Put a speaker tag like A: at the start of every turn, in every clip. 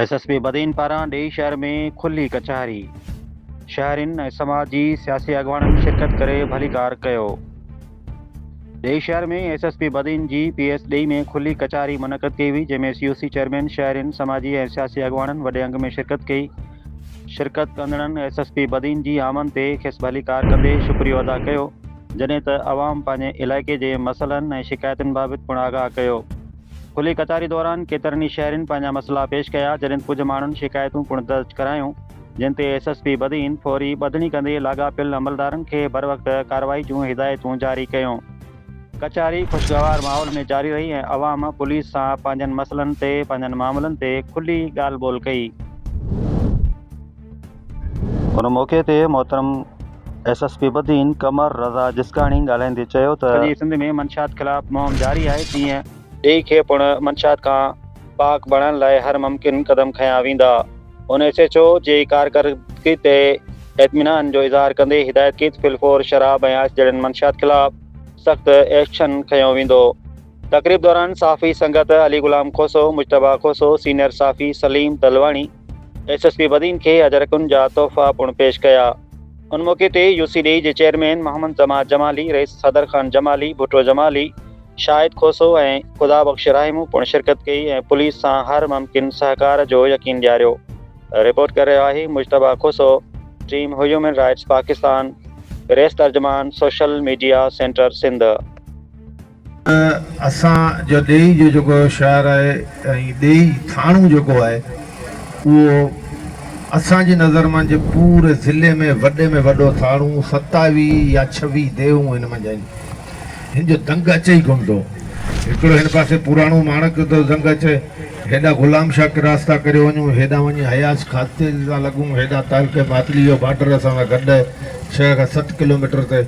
A: S S P Badin پاران ڏيئي شهر ۾ کلي ڪچهري، شهرين ۽ سماج جي سياسي اڳواڻن شرڪت ڪري ڀليڪار ڪيو. ڏيئي شهر ۾ ايس ايس پي بدين جي پي ايس ڏيئي ۾ کلي ڪچهري منعقد ڪئي هئي جنهن ۾ سي او سي چيئرمين، شهرين، سماجي ۽ سياسي اڳواڻن وڏي انگ ۾ شرڪت ڪئي. شرڪت ڪندڙن ايس ايس پي بدين جي آمد تي کيس ڀليڪار ڪندي شڪريو ادا ڪيو. جڏهن ته عوام پنهنجي علائقي جي مسئلن ۽ شڪايتن بابت پڻ آگاهه ڪيو. کلي ڪچهري دوران ڪيترن ئي شهرين پنهنجا مسئلا پيش ڪيا، جڏهن ته ڪجهه ماڻهن شڪايتون پڻ درج ڪرايون، جن تي ايس ايس پي بدين فوري ٻڌڻي ڪندي لاڳاپيل عملدارن کي بروقت ڪارروائي جون هدايتون جاري ڪيون. ڪچهري خوشگوار ماحول ۾ جاري رهي ۽ عوام پوليس سان پنهنجن مسئلن تي پنهنجن معاملن تي کلي ڳالهه ٻولهه ڪئي. ان موقعي تي محترم S S P Badin Qamar Raza Jiskani ڳالهائيندي چيو ته. سڄي سنڌ ۾ منشيات خلاف مهم جاري آهي تيئن. ڊي کي پڻ منشيات کان پاڪ بڻائڻ لاء هر ممڪن قدم کنيا ويندا. هن ايس ايڇ او جي ڪارڪردگي تي اطمينان جو اظهار ڪندي هدايت ڪي ته فل فور شراب ۽ آئس جهڙين منشيات خلاف سخت ايڪشن کنيو ويندو. تقريب دوران صحافي سنگت علي غلام کوسو، مجتبيٰ کوسو، سينيئر صحافي Saleem Talwani, S S P Badin کي اجرڪن جا تحفا پڻ پيش ڪيا. ان موقعي تي يو سي ڊي جي چيئرمين محمد جماعت جمالي، رئيس صدر خان جمالي، ڀٽو جمالي، شاهد کوسو ۽ خدا بخش راهيمو پڻ شرڪت ڪئي ۽ پوليس سان هر ممڪن سهڪار جو يقين ڏياريو. رپورٽ ڪري رهيو آهي مجتبيٰ کوسو، ٽيم هيومن رائٽس پاڪستان، پريس ترجمان، سوشل ميڊيا سينٽر سنڌ. ته
B: اسان جو ڏيئي جو جيڪو شهر آهي ۽ ڏيئي ٿاڻو جيڪو آهي اهو اسان جي نظر منجهه پوري ضلعي ۾ وڏي ۾ وڏو ٿاڻو ستاويهه يا ڇويهه ديهون هن منجهه آهن هن جو دنگ اچي ئي ڪونه ٿو هڪڙو هن پاسي پراڻو ماڻڪ جو ٿو دنگ اچي هيڏا غلام شاهه ڪراس ٿا ڪري وڃون هيڏا وڃي حياس کاتي ٿا لڳون هيڏا تعلقي ماتلي جو بارڊر اسان سان گڏ آهي ڇهه کان ست ڪلوميٽر تي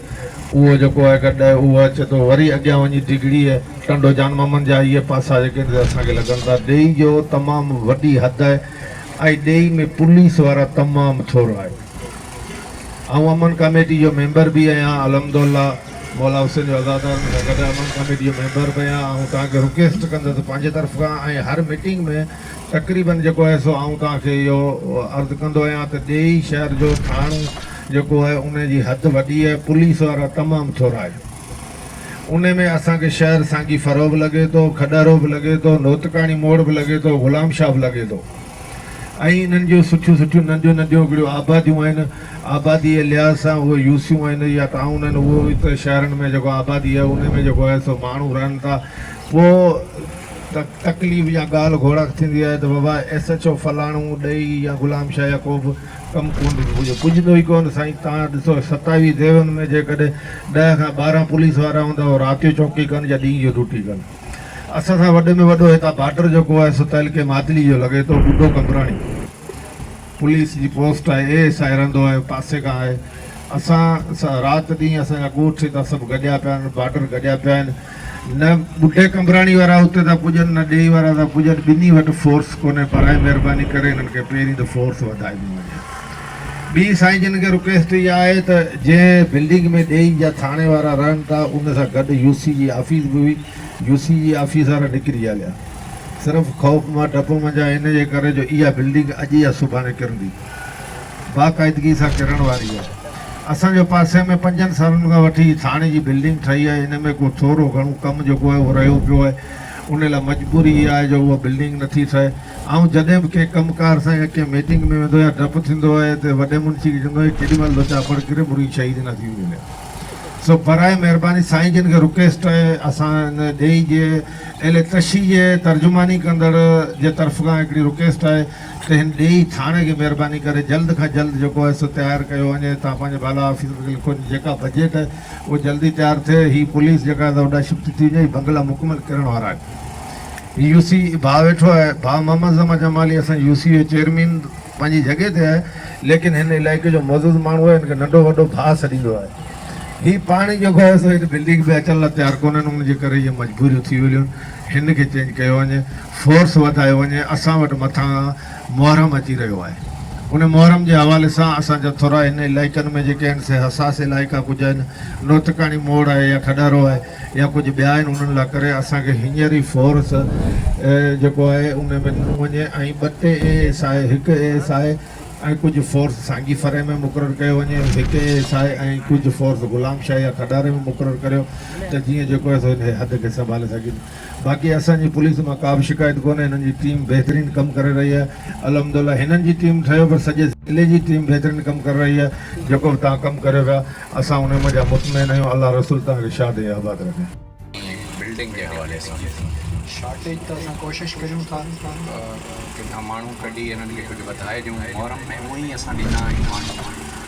B: اهو جيڪو آهي گڏ آهي اهو اچي ٿو وري اڳيان وڃي ڊگهڙيء، ٽنڊو جان محمد جا اهي پاسا جيڪي هن تي اسان کي لڳن ٿا ڏيئي جو تمام وڏي حد آهي ۽ ڏيئي ۾ پوليس وارا تمام ٿورا آهن. آئون امن ڪاميٽي جو ميمبر به اهيان الحمدالله مولا حسين جو عزادار مون سان گڏ امن ڪاميٽي جو ميمبر به اهيان آئون توهان کي رڪيسٽ ڪندس پنهنجي طرف کان ۽ هر ميٽنگ ۾ تقريبن جيڪو آهي سو آئون توهان کي اهو عرض ڪندو اهيان ته ڏيئي شهر جو ٿاڻو جيڪو آهي انهي جي حد وڏي آهي پوليس وارا تمام ٿورا آهن انهي ۾ اسان کي شهر سانگي ڦرو به لڳي ٿو کڏهرو به لڳي ٿو نوتڪاڻي موڙ به لڳي ٿو غلام شاهه به لڳي ٿو ۽ انهن جون سٺيون سٺيون ننڍيون ننڍيون هڪڙيون آباديون آهن آبادي جي لحاظ سان اهي يوسيون آهن يا ٽائون آهن اهو هتي شهرن ۾ جيڪو آبادي آهي انهي ۾ جيڪو آهي سو ماڻهو رهن ٿا پوء تڪليف يا ڳالهه گهوڙا ٿيندي آهي ته بابا ايس ايڇ او فلاڻو ڏيئي يا غلام شاهه يا ڪو به ڪم ڪونه ٿو پڄي، پڄندو ئي ڪونه سائين، توهان ڏسو ستاوي ديون ۾ جيڪڏهن ڏهه کان ٻارهن پوليس وارا هوندا هو رات جو چوڪي ڪن يا ڏينهن جو ڊوٽي ڪن. اسان سان وڏي ۾ وڏو هتان بارڊر جيڪو آهي سو تعلقي ماتلي جو لڳي ٿو، ٻڍو قمبراڻي پوليس جي پوسٽ آهي، اي ايس آء رهندو آهي پاسي کان آهي، اسان سان رات ڏينهن اسان جا ڳوٺ هتان سڀ گڏيا پيا آهن بارڊر گڏيا پيا آهن نه ٻڍي قمبراڻي وارا اتي ٿا پڄن نه ڏيئي وارا ٿا پڄن ٻنهي وٽ فورس ڪونهي براء مهرباني ڪري انهن کي پهرين ته فورس وڌائبي وڃي ٻي سائين جن کي رڪويسٽ اها آهي ته جنهن بلڊنگ ۾ ڏيئي جا ٿاڻي وارا رهن ٿا ان سان گڏ يو سي جي آفيس به هئي يو سي جي آفيس وارا نڪري هليا صرف خوف مان ڊپ منجهان ان جي ڪري جو اها بلڊنگ اڄ يا سڀاڻي ڪرندي باقاعدگي سان ڪرڻ واري آهي. اسان جي پاسي ۾ پنجن سالن کان وٺي هي ٿاڻي جي بلڊنگ ٺهي آهي، ان ۾ ڪو ٿورو گهڻو ڪم جيڪو آهي اهو رهيو پيو آهي، ان لاء مجبوري اها آهي جو اها بلڊنگ نٿي ٺهي. آئون جڏهن به ڪنهن ڪم ڪار سان يا ڪنهن ميٽنگ ۾ ويندو آهيان ڊپ ٿيندو آهي ته وڏي منشي کي چوندو آهيان ڪيڏي مهل ٿو چاپڙ ڪري مرغي شهيد نه ٿي ملي. سو براء مهرباني سائين جن کي رڪويسٽ آهي اسان ان ڏيئي جي اهل تشيء جي ترجماني ڪندڙ جي طرف کان هڪڙي رڪويسٽ آهي. ڪنهن ڏيئي ٿاڻي کي مهرباني ڪري جلد کان جلد جيڪو آهي سو تيار ڪيو وڃي تان پنهنجي بالا آفيسر کي لکو جيڪا بجيٽ آهي اهو جلدي تيار ٿئي هي پوليس جيڪا آهي سا هوڏانهن شفٽ ٿي وڃي هي بنگلا مڪمل ڪرڻ وارا آهن هي يو سي اي ڀاء ويٺو آهي ڀاء محمد زمان جمالي اسان جي يو سي جو چيئرمين پنهنجي جڳهه تي آهي ليڪن هن علائقي جو معزز ماڻهو آهي هن کي ننڍو وڏو ڀاء سڏيندو آهي هي پاڻي جيڪو آهي سو هن بلڊنگ به اچڻ لاء تيار ڪونهن ان جي ڪري اهي مجبوريون ٿي ويليون آهن هن کي چينج ڪيو وڃي فورس وڌايو وڃي اسان وٽ مٿان محرم اچي رهيو آهي ان محرم جي حوالي سان اسان جا ٿورا هن علائقن ۾ جيڪي آهن سي حساس علائقا ڪجهه آهن نوتڪاڻي موڙ آهي يا کڏارو آهي يا ڪجهه ٻيا آهن انهن لا ڪري اسان کي هينئر ئي فورس جيڪو آهي ان ۾ ڏنو وڃي ۽ ٻه ٽي اي ايس آء هڪ اي ايس آء ۽ ڪجهه فورس سانگي فرح ۾ مقرر ڪيو وڃي هڪ اي ايس آء ۽ ڪجهه فورس غلام شاهه يا کڏاري ۾ مقرر ڪريو ته جيئن جيڪو آهي سو هن حد کي سنڀالي سگهين. باقي اسان جي پوليس مان ڪا به شڪايت ڪونهي هنن جي ٽيم بهترين ڪم ڪري رهي آهي الحمدالله هنن جي ٽيم ٺهيو پر سڄي ضلعي جي ٽيم بهترين ڪم ڪري رهي آهي جيڪو به توهان ڪم ڪريو پيا اسان ان مان جا مطمئن آهيون الله رسول توهان کي شاد ۽ آباد رکي. بلڊنگ جي حوالي سان شارٽيج ته اسان
C: ڪوشش ڪريون ٿا ڪٿان ماڻهو ڪڍي انهن کي ڪجهه وڌائي ڏيون محرم ۾ هونئن ئي اسان ڏنا آهن ماڻهو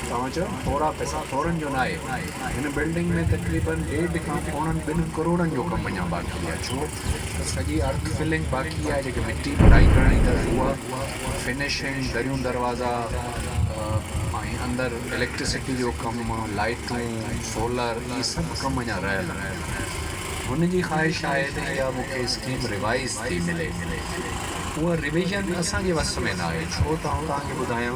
C: توهان چيو ٿورا پئسا ٿورن جو ناهي هن بلڊنگ ۾ تقريباً ڏيڍ کان پوڻن ٻن ڪروڙن جو ڪم اڃا باقي آهي ڇو ته سڄي ارٿ فلنگ باقي آهي جيڪي مٽي ڀرائي ڪرڻي اٿس اها فنشنگ دريون دروازا ۽ اندر اليڪٽرسٽي جو ڪم لائيٽون سولر اهي سڀ ڪم اڃا رهيل آهن هن جي خواهش آهي ته اها مون کي اسڪيم ريوائيز ٿي ملي اها ريويزن اسان جي وس ۾ ناهي ڇو ته آئون توهان کي ٻڌايان